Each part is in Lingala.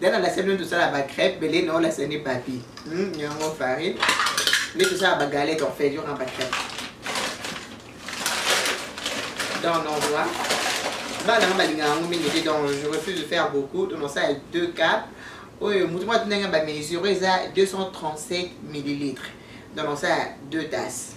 dana na sebe tosala ba crêpe bele na ola sene papi hmm, yango farine nde tosala ba galette en fait yona ba crêpe dans l'endroit bana nga balinga yango mingi te donc je refuse de faire beaucoup donc nasala deux cap oyo motu mwa tuna nga bamesure eza 237 millilitres donc nasala deux tasses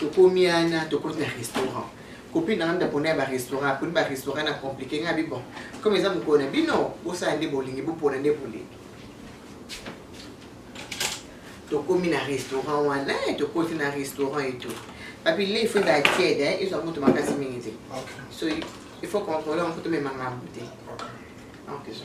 tokomi wana tokoti na restaurant copine nanga ndako na ya barestaurant aponi barestaurant na compliqué ngai abi bon comme eza mokolo na bino bosala nde bolingi bopona nde bolingi tokomi na restaurant wana eh, tokoti na restaurant eto babile ifo ezala tiede eh, ezwa moto makasi mingi te so il faut contrôler yango tomema ngambo te donc eza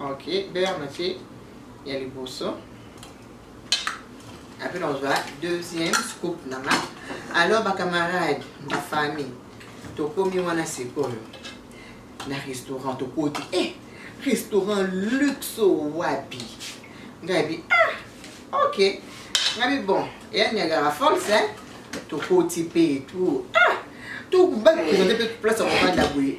ok beurre na tie ya liboso apres nakozwa deuxième scoop na nga alors bacamarade na famille tokomi wana sikoyo na restaurant tokoti e eh, restaurant luxe wapi ngai bi ah ok ngai bi bon eya niagara falls eh? tokoti mpe etout ah tokobakisa nde mpe place ya kofanda boye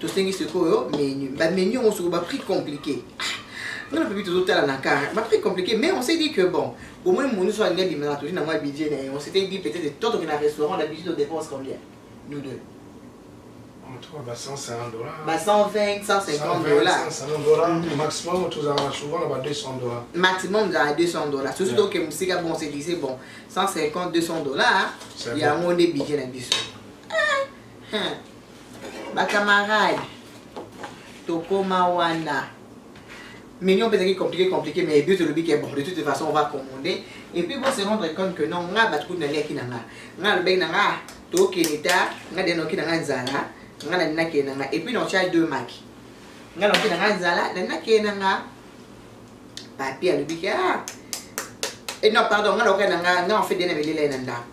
tosengi sikoyo menu bamenu yango soko baprix compliqué nga na pepi tozotala na kar baprix compliqué mais on s'est dit que bon omoni moni so alingi abimaka tozi nango ya budget na ye on s'était dit peut-être totoke na restaurant na budget todepense combien nous deux ba 120 150 dollars maximum tozalaka souvent na ba 200 dollars maximum ezala 200 dollars soki toke mosika bon se dise bon 150 200 dollars yango nde budget na biso Hum. Ba camarades tokoma wana mignon mpe ezalaki compliqué compliqué mais ebi tolobi ke bon de toute façon on va commander et puis bose rendre compte que non nga bato kutu naliaki na nga nga alobaki na nga tokende ta nga de noki na nga nzala nga nani nakende na nga et puis notya deux maki nga noki na nga nzala nani nakende na nga papi alobi ke ah et non pardon nga noki na nga nga en fait dena belele na ndako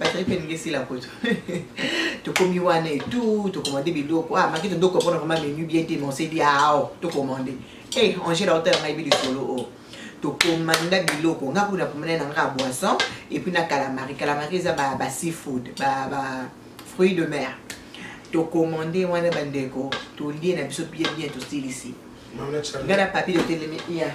bazali mpe elingi esila kutu tokomi wana etu tokomande biloko ah maki tondoko mpona vraimen menu bien te monsedi ao ah, tokomande e eh, angela otala ngai bi lisolo o oh. tokomanda biloko nga kuna komanda na nga boisson epuis na calamari calamari eza ba seafood ba fruit de mer tokomande wana bandeko tolie na biso bien bien tosilisi nga na papier totelemi ya yeah.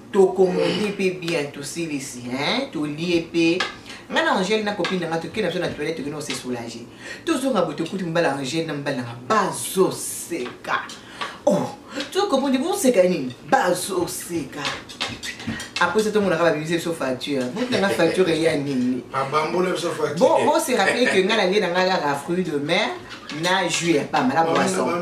tokomoni mpe bien tosilisi tolie mpe ngai na angele na copine nanga tokei na biso na toilette tokei nao se soulage tozonga boye tokuti mobali ya angele na mobali nanga bazoseka oh tokomoni boseka nini bazoseka apres ça tomonaka babimisi biso facture botanga facture eya nini bo se rappele ke ngai nalie na ngai kaka fruit de mer na jus ya pamba na boisson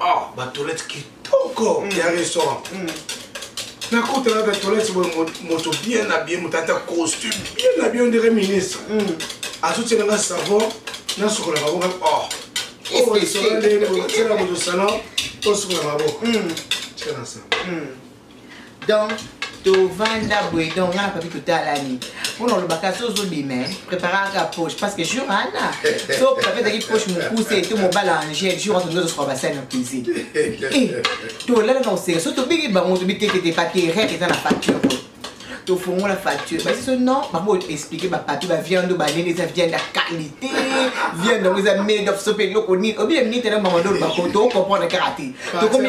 ah ba toilette kitoko mm. ya restaurant mm. nakotala ba toilette boye moto bien habillé moto ata costume bien habillé on dirait ministre mm. azotiela nga savon nasukola maboko oh oyo oh, esola ndenge otiela moto salon tosukola maboko tiela savon donc tovanda boye donc nga na papi totalani mpona olobaka so ozobima préparaka poche parce que jour ana so papi ezalaki poche mokuse to mobala angel jour wana tozozosoka basali na cuisine tolala na koseka so tobiki bango tobitekete papier rek eza na facture oyo tofongola facture basi so non bango explike bapapier baviande oyo banene eza viande ya qualité viande yango eza made of so mpe eloko nini obile minite na bango ndolo bakoto okomprendre kaka te tokomi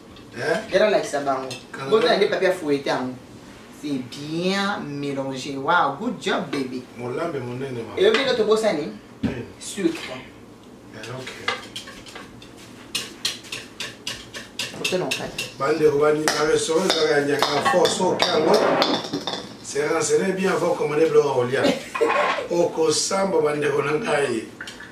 Yala eh? lakisa bango. Boto na nde papier à fouetter yango. C'est bien mélangé. Wow, good job baby. Molambe monene ma. Et obi ndoto bosani? Eh. Sucre. Eh, okay. bandeko baninga restaurant ezalaka ya nyaka fort soki yango se renseigne bien avant commande biloko ya kolia okosamba bandeko na ngai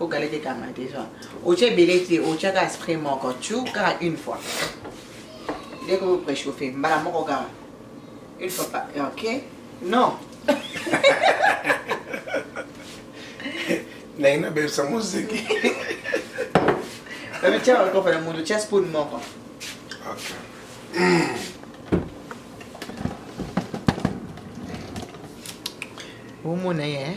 ogalaki kanga deja otya ebele te otya kaka spray moko tu kaka une fois ndeko ko préchauffe mbala moko kaka une fois pas ok non naye nabebisa moziki babetya bakofa na moto tya spoon moko okay. mm. omona ye eh?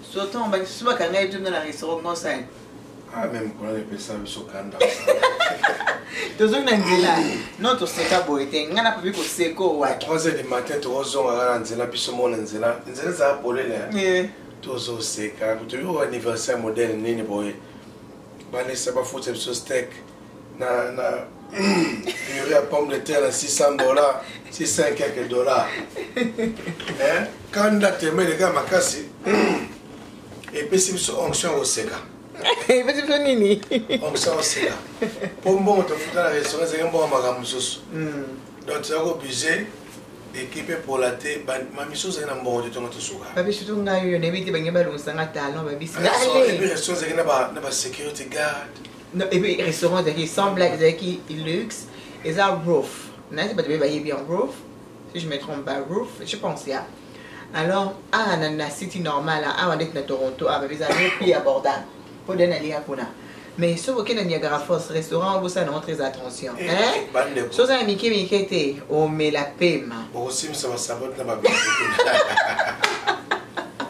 Surtout ba kisusu ba kanga etu na restaurant conseil. Ah même kuna ne pesa biso kanda. Tozongi na nzela. Non to seka boye te. Nga na papi ko seko wa. 3h du matin to ozonga na nzela biso mona nzela. Nzela za polele. Eh. Tozo seka. Kutu yo anniversaire modèle nini boye. Balesa ba futa biso steak. na na pure ya pomme de terre na 600 dollars 600 quelques dollars eh, kanda temele kaka makasi epesi biso onction ya koseka epesi biso nini onction ya koseka mpo mbongo tofuta na restaurant ezalaki mbongo makambo mosusu hmm. donc toza kobuse ekipe epola te mamiso ozali na mbongo te tongo tosuka babisu to ngai oyo nayebi te bange balongisa nga talon babisi restaurant ezalaki na basécurité garde Non, et puis restaurant ezalaki sans blague ezalaki luxe eza roof nayebi bato baye bayebi ya roof si je me trompe pas roof je pense ya alors awa na, na city normal awa ndeti na toronto awa babi eza le prix abordable mpo de nalia kuna mais soki okei na niagara force restaurant obosana yango très attention soki oza na mike mike te omela pema okosimisa basabote na babi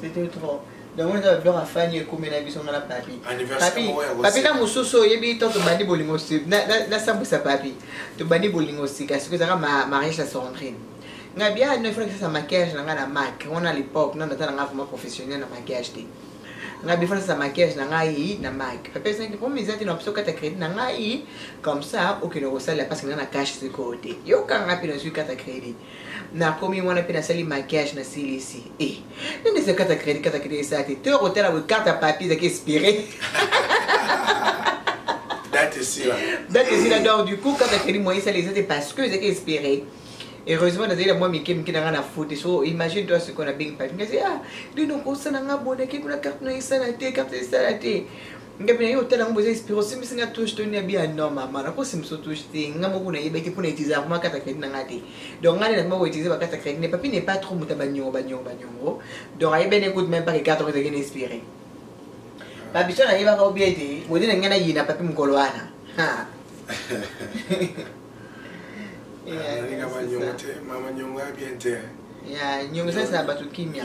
C'était trop. Donc on a blog à Fanny et Koumé Nabi sont la papi. Papi, papi na mususu oyebi to to bandi bolingo si na na sambu sa papi. To bandi bolingo si kasi ko zaka ma mariage à Sandrine. Nga bien ne fera que ça maquillage na nga na Mac. On a l'époque non natana nga vraiment professionnel na maquillage te. Nga bien fera ça maquillage na nga yi na Mac. Papi c'est que pour mes amis na psoka ta crédit na nga yi comme ça aucune recette parce que na cash ce côté. Yo kanga pino sur carte crédit. nakomi wana mpe nasali maquillage nasilisi e eh, nini eza kata kredi kata kredi esala te to kotala boye karte ya papier ezaki espire date esila date esila donc du coup kata kredi moyen esala eza te parce que ezaki espire heureusement nazali na mwa mike mike na ngai na fute so imagine toi sikoyo nabengi papi ngasi ah lino kosala ngai bonaki kuna carte no esala te carte esala te ngabi naye otala yango boza esprit osimbisi nga touche to nini bia non mama nakosimbisa touche te nga moko nayebaki mpo na utilize yango makata credit na nga te donc nga nde nakoma koutilize bakata credit ne papi ne pas trop moto ya banyongo banyongo banyongo donc ayebani ekute meme pas kekata oyo ezalaki na espire babiso nayebaka obia ete bode na ngai nayina papi mokolo wana nyongo esalisa bato kimia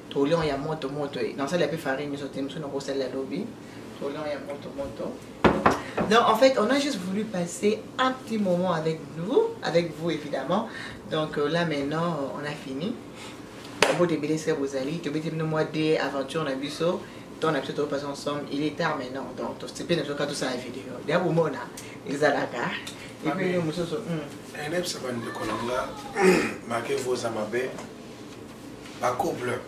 Tolion ya moto moto eh. na sala pe farine nyoso te mosusu nakosala lobi tolion ya moto moto donc en fait on a juste voulu passer un petit moment avec nous avec vous évidemment donc euh, là maintenant on a fini bote ebele se bozali tobeti bino mwa de aventure na biso ntango na biso topasa ensemble il est tard maintenant donc tosepe na biso ka tosala video deya bomona ezalaka epuis yo mosusu nayebisa bandeko na nga make voza mabe ba couple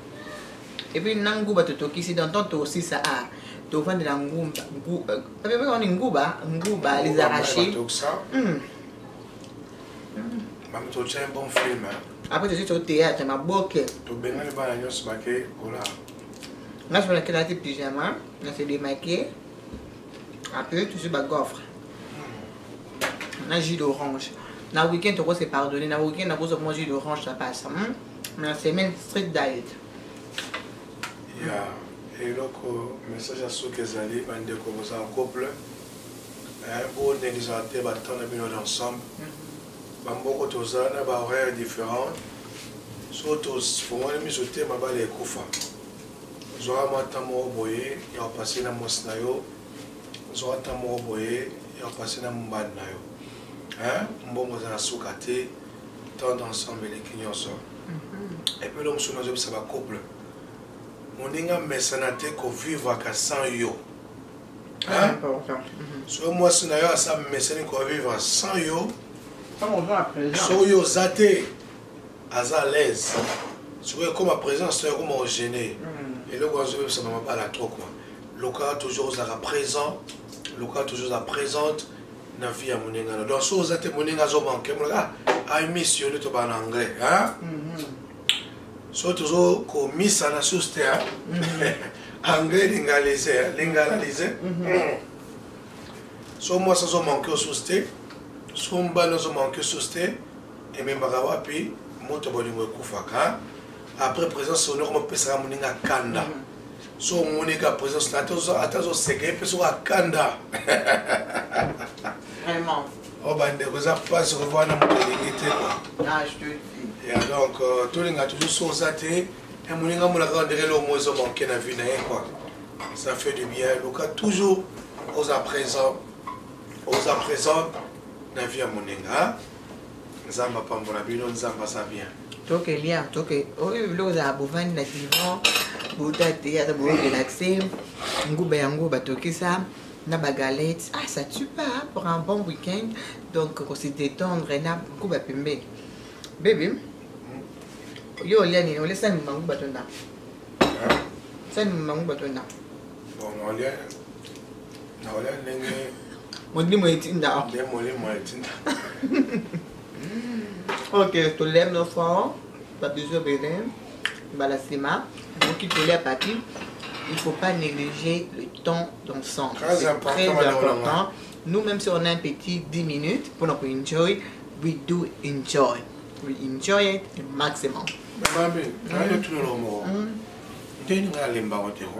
et puis na nguba totokisi dans temps tosisa a tovandela ngumba wani nguba nguba les arrachés mami totya un bon film après tosi to théâtre maboke tobengani bana nyonso bake kola nga soki nakelaki pyjama na se demaquiller appeler toujours ba gaufre na jus d'orange na week-end toko se pardonner na week-end nakozwa mwa jus d'orange ça passe hmm? mais na semaine strict diet ya eloko message ya soki ezali bandeko boza en couple bonegligea te batemps na bino d'ensemble hmm. bamoko toza na bahoraire différente so tofongoli miso te mabala ekufa zwa mwa ntan moko boye ya kopase na mwasi na yo zwa ntan moko boye ya kopase na mobali na yo mbongo eza na suka te temps d'ensemble eleki nyonso mhm. epe eloko mosusu nazobisa bacouple moninga mesana te kovivaka sans yo ah, mhm. soki mwasi na yo asa mesani kovivre sans yo soki oza te aza à l'aise sikoyo ekoma présence to ekoma ogene mm. eloko azobebisa na mabala trop quoi lokaka toujours ozalaka présent lokaka toujours oza présente na vie ya moninga na donc soki oza te moninga azomanke molaka ah, i miss yo nde tobaa na anglais mm-hmm. so tozo komisana susu te mm-hmm. anglais lingalise lingalalise mm-hmm. so mwasi azomanke osusu te so mbali azomanke osusu te ememaka wapi moto bolingo ekufaka après présence ono koma pesaka moninga kanda mm -hmm. so omoni ka présence na ata azoseka ye mpe soko akanda vraiment o oh, bandeko eza mpasi kovaa na moto elingi te kua ah, ya donc euh, tolinga toujours so oza te eh, moninga molaka ndenge lomo ezo manke na vie na ye kua ça fait du bien luka toujours oza présent oza présente na vie ya moninga nzambe apambola bino nzambe aza bien toke lia toke oyo biloko ezala bovandi na divan bota te ata borelaxe nguba yango batokisa na bagalete ah ça tue pas pour un bon week-end donc kose détendre na nguba pembeni bebe yo olia nini olia sani mangu batonda sani mangu batonda bon olia molimo etinda molimo etinda ok tolem nofran babizu ebele mbala nsima okoki kolia papi il ne faut pas négliger le temps d'ensemble. C'est très important. Nous, même si on a un petit 10 minutes pour nous enjoy, we do enjoy. We enjoy it the maximum. Maman, tu le mot. Deni nga lemba wote ho.